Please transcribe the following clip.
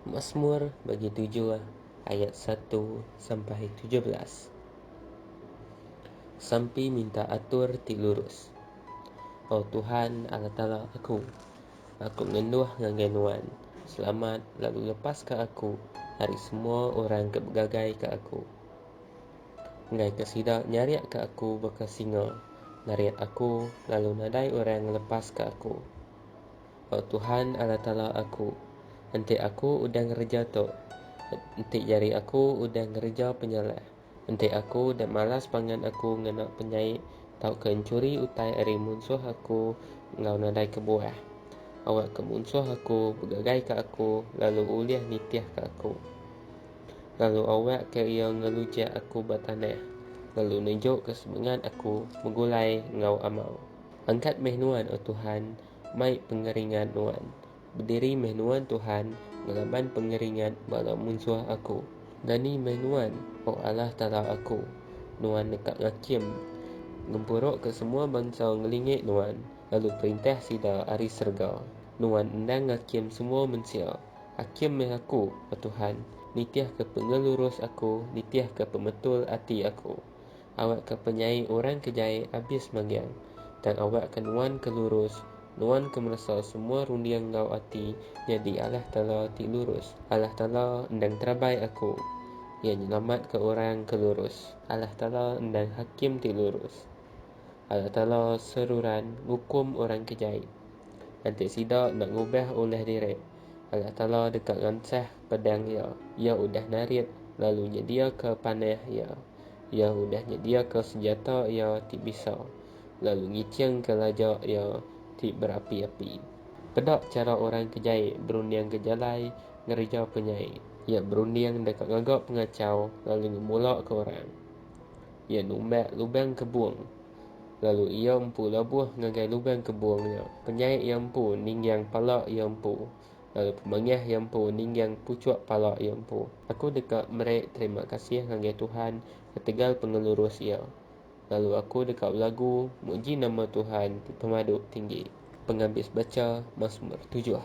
Masmur bagi tujuh ayat satu sampai tujuh belas. Sampi minta atur ti lurus. O Tuhan, Allah Taala aku, aku ngenduh ngagai Nuan, selamat lalu lepaska aku ari semua orang ke begagaika aku. Enggaika sida nyariaka aku baka singa, narit aku lalu nadai orang ngelepaska aku. O Tuhan Allah Taala aku, enti aku udah ngereja tu, enti jari aku udah ngereja penyalah, enti aku udah malas pangan aku ngena penyai tauka enchuri utai ari munsuh aku enggau nadai kebuah, awakka munsuh aku begagaika aku lalu ulih nitihka aku, lalu awakka iya ngelujak aku ba tanah, lalu nunjukka semengat aku begulai enggau amau. Angkat meh nuan, O Tuhan, Mai pengeringat nuan. Bediri meh nuan Tuhan ngelaban pengeringat bala munsuh aku. Dani meh nuan, O Allah Taala aku. Nuan neka ngakim. Ngempurukka semua bansa ngelingi nuan, lalu perintah sida ari serega. Nuan endang ngakim semua mensia. Akim meh aku, O Tuhan, nitihka pengelurus aku, nitihka pemetul ati aku. Awakka penyai orang ke jai abis manggang, tang awakka nuan ke lurus, nuan ke meresa semua runding enggau ati nyadi Allah Taala ti lurus. Allah Taala endang terabai aku. Iya nyelamatka orang ke lurus. Allah Taala endang hakim ti lurus. Allah Taala seruran ngukum orang ke jai. Enti sida enda ngubah ulah diri, Allah Taala deka ngansah pedang Iya. Iya udah narit lalu nyediaka panah Iya. Iya udah nyediaka senjata iya ti bisa, lalu ngichingka laja iya ti berapi-api. Peda chara orang ke jai berundingka jalai ngereja ke nyai. Iya berunding deka ngaga pengachau lalu ngemulaka orang. Iya numbak lubang kebung, lalu iya empu labuh ngagai lubang kebung nya, penyai iya empu ninggang pala iya empu. Lalu pemangih iya empu ningging puchuk pala iya empu. Aku deka meri terima kasih ngagai Tuhan ketegal pengelurus Iya, lalu aku deka belagu muji nama Tuhan ti pemadu tinggi. Pengabis bacha Masmur tujuh.